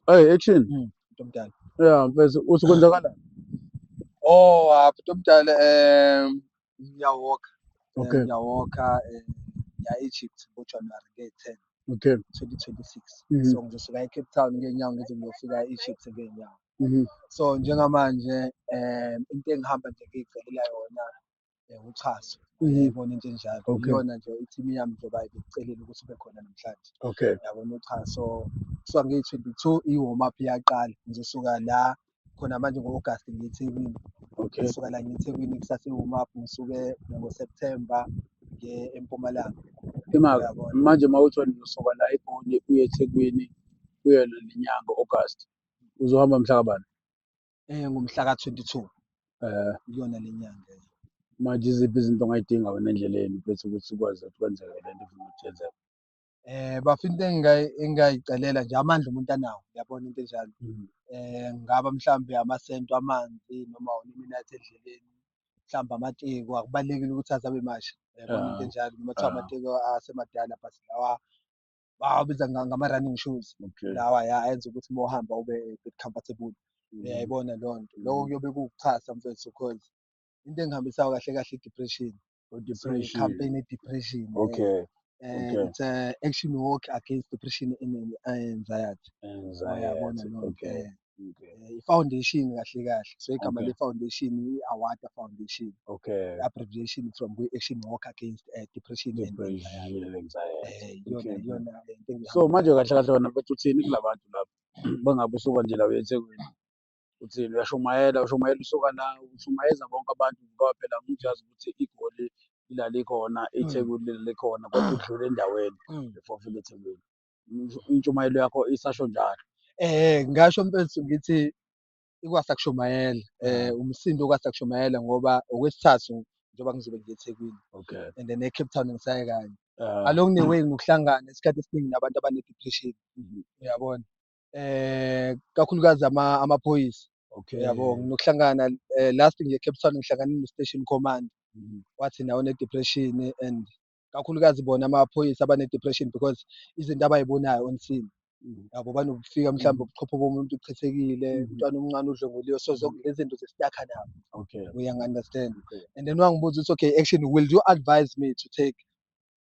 Hey action. Mm, Ntomdala. Yeah, mfethu uthi kwenzakala. Oh, hapha Ntomdala eh ngiyawalka. Eh, Okay. Ngiyawalka eh ngiya Egypt ngoJanuary nge 10 Okay. 2026. Mhm. So ngizosuka eCape Town ngenyawo ngize ngiyofika eEgypt ngenyawo. Mhm. So njengamanje eh into engihamba nje ngiyicelela yona eh, uxhaso Mhm. yayibona into enjalo Okay. iyona nje ithimu yami njengoba ibikucelile ukuthi ube khona namhlanje okay yabona uxhaso kusuka ngiyi-twenty-two i-warm up iyaqala ngizosuka la khona manje ngo-agasti ngiyethekwini okay ngisuka la ngiyethekwini kusase warm up ngisuke ngoseptemba ngiye empumalanga imaka uyabona manje uma uthi wena uzosuka la egoli uye ethekwini kuyona nenyanga august uzohamba mhla kabani Eh ngomhla ka-22 eh kuyona le nyanga. Manje iziphi izinto ongayidinga wena endleleni bese ukuthi ukwazi ukuthi kwenzeke le nto ufuna ukuthi yenzeke? Eh bafa into engingayicelela nje amandla umuntu anawo uyabona into enjalo. Mm. Eh ngaba mhlawumbe amasento amanzi noma uneminathi endleleni mhlawumbe amatiko akubalulekile ukuthi azabe masha yabona into ah, enjalo noma kuthiwa ah. amatiko asemadala but lawa bawabiza nga- ngama-running shoes Okay. lawa ya enza ukuthi uma uhamba ube a bit comfortable Mhm. uyayibona leyo nto loko Mhm. kuyobe kuwukuxhasa mfethu cause into engihambisayo kahle kahle i-depression so Depression. i-campaign i-depression eh, Okay. eh, okay. it's a action walk against depression and and anxiety uyabona Anxiety. leyo nto Okay. eh. okay. Eh, i-foundation kahle kahle so igama okay. le-foundation i-awada foundation okay. abbreviation from kwi-action walk against uh, depression, depression and anxiety eh, iyona iyona so manje kahle kahle wena bethu uthini kula bantu lapho bangabe usuka nje la uye ethekwini uthini uyashumayela ushumayela usuka la ushumayeza bonke abantu ngoba phela umuntu uyazi ukuthi igoli ilalikhona mm. ithekwini lilikhona kodwa udlule endaweni mm. before ufike ethekwini intshumayelo yakho isasho njalo eh ngasho mfethu ngithi ikwasakushumayela eh umsindo kwasakushumayela ngoba okwesithathu njengoba ngizobe ngiye eThekwini okay and then eCape Town ngisaye kanye uh, along the way ngokuhlangana isikhathi esiningi nabantu abanedepression mhm. uyabona eh kakhulukazi ama amaphoyisa okay yabo nginokuhlangana eh, last ngiye eCape Town ngihlangana no station command mhm. wathi nawo ne depression and kakhulukazi bona amaphoyisa abane-depression because izinto abayibonayo on scene mm. yabo banokufika mhlawumbe mm. ubuchopho bomuntu uchithekile mm-hmm. umntwana omncane udlonguliwe so mm-hmm. lezi zinto zesitakha nabo okay uyangi-understand okay. and then wangibuza ukuthi okay action will you advise me to take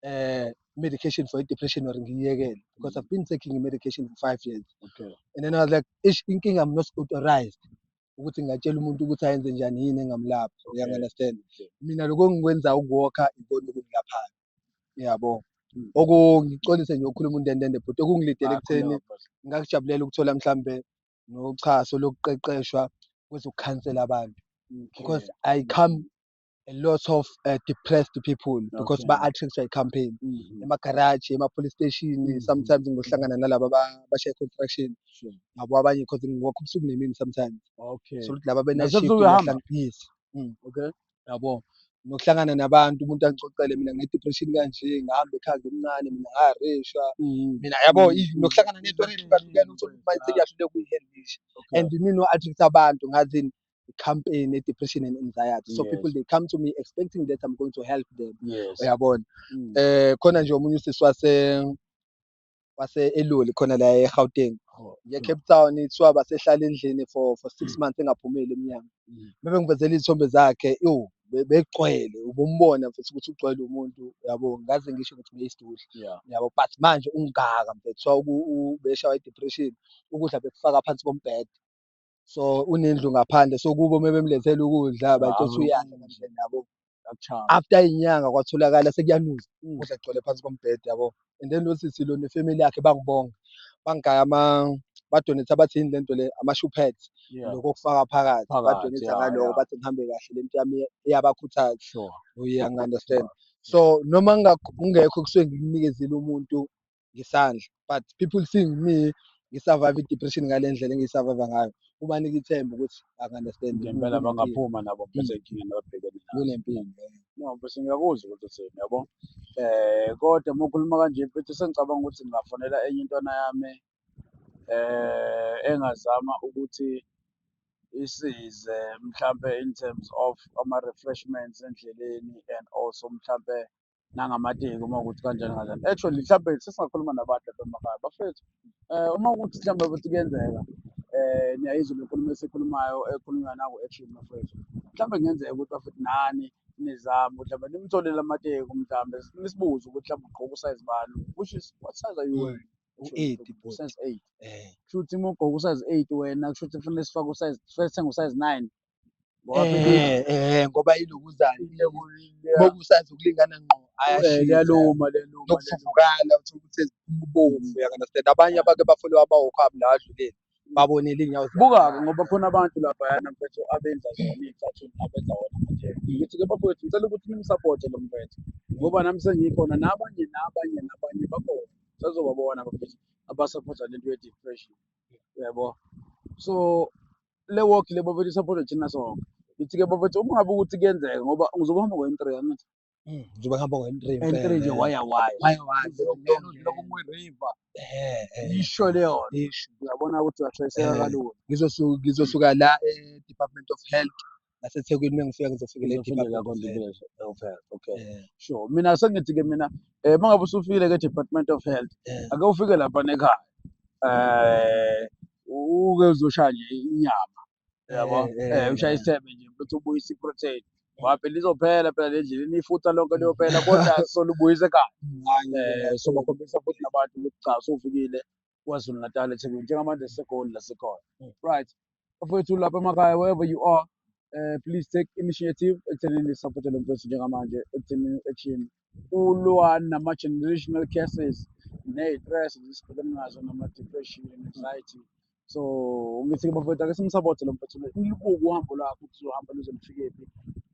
uh, medication for i-depression or ngiyiyekele because mm. i've been taking i-medication for five years okay. and then i was like ish inkinga i'm not authorized ukuthi ngingatshela umuntu ukuthi ayenze njani yini engamlaphi okay. uyangunderstand okay. mina lokho engikwenza ukuwokha ikona okungilaphayo yabo hmm. okungicolise nje ukukhuluma untendende bhuti okungilidele ekutheni ngakujabulela ukuthola mhlambe nochaso lokuqeqeshwa kwezokukhansela abantu because i come a lot of uh, depressed people because okay. ba-attractwa i-campaign mm -hmm. emagaraji ema-police station mm -hmm. sometimes ngohlangana nalaba bashaye construction sure. nabo abanye because ngiwakho ubusuku nemini sometimes okay. so ukuthi laba benashifthlangiphizi mm. okay. yabo nokuhlangana nabantu umuntu angixoxele mina nginedepression kanje ngihamba ekhanda omncane mina ngahareshwa mm. mina yabo mm. nokuhlangana nento eyihlukahlukene uthole ukuthi mayise kuyahlule kuyi-handlisha and mina no-attract abantu ngazini the campaign a depression and anxiety so yes. people they come to me expecting that I'm going to help them yes. uyabona mm. eh khona nje omunye usisi wase wase eloli khona la eGauteng oh, ye Cape Town ithiwa basehlala endlini for for 6 mm. months engaphumeli emnyango mm. bebe ngivezela izithombe zakhe yo begcwele ubumbona mfethu ukuthi ugcwele umuntu yabo ngaze ngisho ukuthi beyisidudla yeah. yabo but manje ungaka mfethu so ubeshawa i depression ukudla bekufaka phansi kombhede so unendlu ngaphandle so kubo uma bemlethela ukudla bacothi uyadla kahle nabo after inyanga kwatholakala sekuyanuza mm. ukudla kugcwele phansi kombhede yabo and then lo sisi lo nefamily yakhe bangibonga bangigaya ama badonetha bathi yini lento le ama-shoepad lokho kufaka phakathi badonetha ngaloko bathi ngihambe kahle lento yami iyabakhuthaza uye angi-understand so noma ungekho kusuke ngikunikezile umuntu ngesandla but people seeing me ngisurvive i-depression ngale ndlela engiyisurvive ngayo kubanika ithemba ukuthi akunderstand ngempela bangaphuma nabo mphethe inkinga nababhekene kunempilo no bese ngiyakuzwa ukuthi uthini yabo eh kodwa uma ukhuluma kanje mphethe sengicabanga ukuthi ngingafonela enye intwana yami eh engazama ukuthi isize mhlampe in terms of ama-refreshments endleleni and also mhlampe nangamateki uma ukuthi kanjani kanjani actually mhlawumbe sesingakhuluma nabantu lapha emakhaya bafethu um uma ukuthi mhlawumbe ukuthi kuyenzeka um niyayizwa le nkulumo esikhulumayo ekhulunywa naku action bafethu mhlawumbe kungenzeka ukuthi bafethu nani nizame ukuthi mhlawumbe nimtholele amateki mhlawumbe nisibuze ukuthi mhlawumbe ugqoka usayizi bani which is what size are you wearing u-eight bhuti usayizi eight um kusho ukuthi uma ugqoka usayizi eight wena kusho ukuthi kufanele sifake usayizi sithenge usayizi nine Eh, eh, ngoba ilokuzana bokusazi ukulingana ngqo ayashiyaluma nokuvuvukala uthola ukuthi ezibomvu uyakanasitenda abanye abake bafole wabawokho abo la adluleni babonele iy'nyawo buka-ke ngoba khona abantu laphayana mfethu abenza zona iy'cathuni abenza wona manje ngithi-ke bafowethu ngicela ukuthi nimsapote lo mfethu ngoba nami sengikhona nabanye nabanye nabanye bakhona sazobabona bafethu abasaphotha le nto ye-depression yabo so le walk le bafethu isaphothwe thina sonke ngithi-ke bafethu uma ngabe ukuthi kuyenzeka ngoba ngizobe hamba ngo-entry angithi Mm, njengoba ngihamba ngo-entry entry nje waya waya Waya waya. lokumweriva Eh, eh, yisho leyona isho. uyabona ukuthi uyashayiseka Eh. kalula Ngizosu- ngizosuka la e-department of health nasethekwini uma ngifika ngizofikela okay yeah. sure mina sengithi-ke mina um uma ngabe usufile ke department of health yeah. ake ufike lapha nekhaya um uke uzoshaya nje inyama yabo um ushaya isithebe nje ukuthi ubuyise iprotein wapi lizophela phela le ndleleni ifutha lonke liyophela kodwa solubuyise ekhaya um sobakhombisa futhi nabantu ukuthi cha sofikile KwaZulu Natal eThekwini njengamanje siseGoli la sikhona mm. right bafowethu lapha emakhaya wherever you are uh, please take initiative ekuthenini support lo mfowethu njengamanje ekuthenini ethini ulwa nama-generational cases ney'tress zisibhekene nazo nama-depression anxiety so ngithi bafowethu ake simsapothe lo mfowethu nilibuke uhambo lwakho ukuthi uzohamba luzolifikephi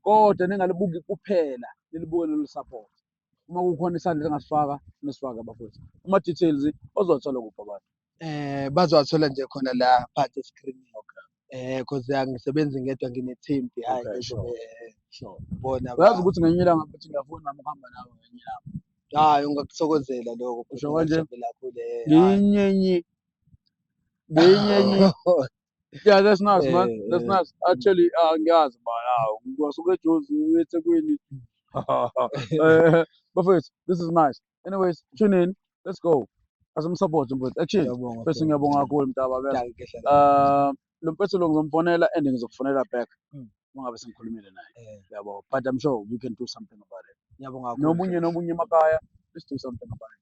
kodwa ningalibuki kuphela nilibuke nolusaphothe uma kukhona isandla engasifaka nisifake bafowethu ama details ozothola kuphi abantu eh bazowathola nje khona la phansi escreenini eh cause angisebenzi ngedwa ngine team behind Okay, sure. eh, sure bona uyazi ukuthi ngenye ilanga futhi ngiyafuna nami ukuhamba nawe ngenye ilanga hayi ungakuthokozela lokho Usho kanje? ngiyinyenye ngiyinyenye Yeah, that's nice, man. Eh, That's eh. nice. Actually, uh, angiyazi bala. Ngwasuka eJozi uye eThekwini. Eh, Bafethu, this is nice. Anyways, tune in. Let's go. Asimsupport mfethu. Action. Ngiyabonga, Mfethu ngiyabonga kakhulu mntaba. Ngiyabonga. Ngiyabonga. Ngiyabonga. Uh, lo mfethu lo ngizomfonela and ngizokufonela back. Mm. Uma ngabe sengikhulumile naye. Eh, Yabo. But I'm sure we can do something about it. Ngiyabonga kakhulu. Nomunye nomunye emakaya. Let's do something about it.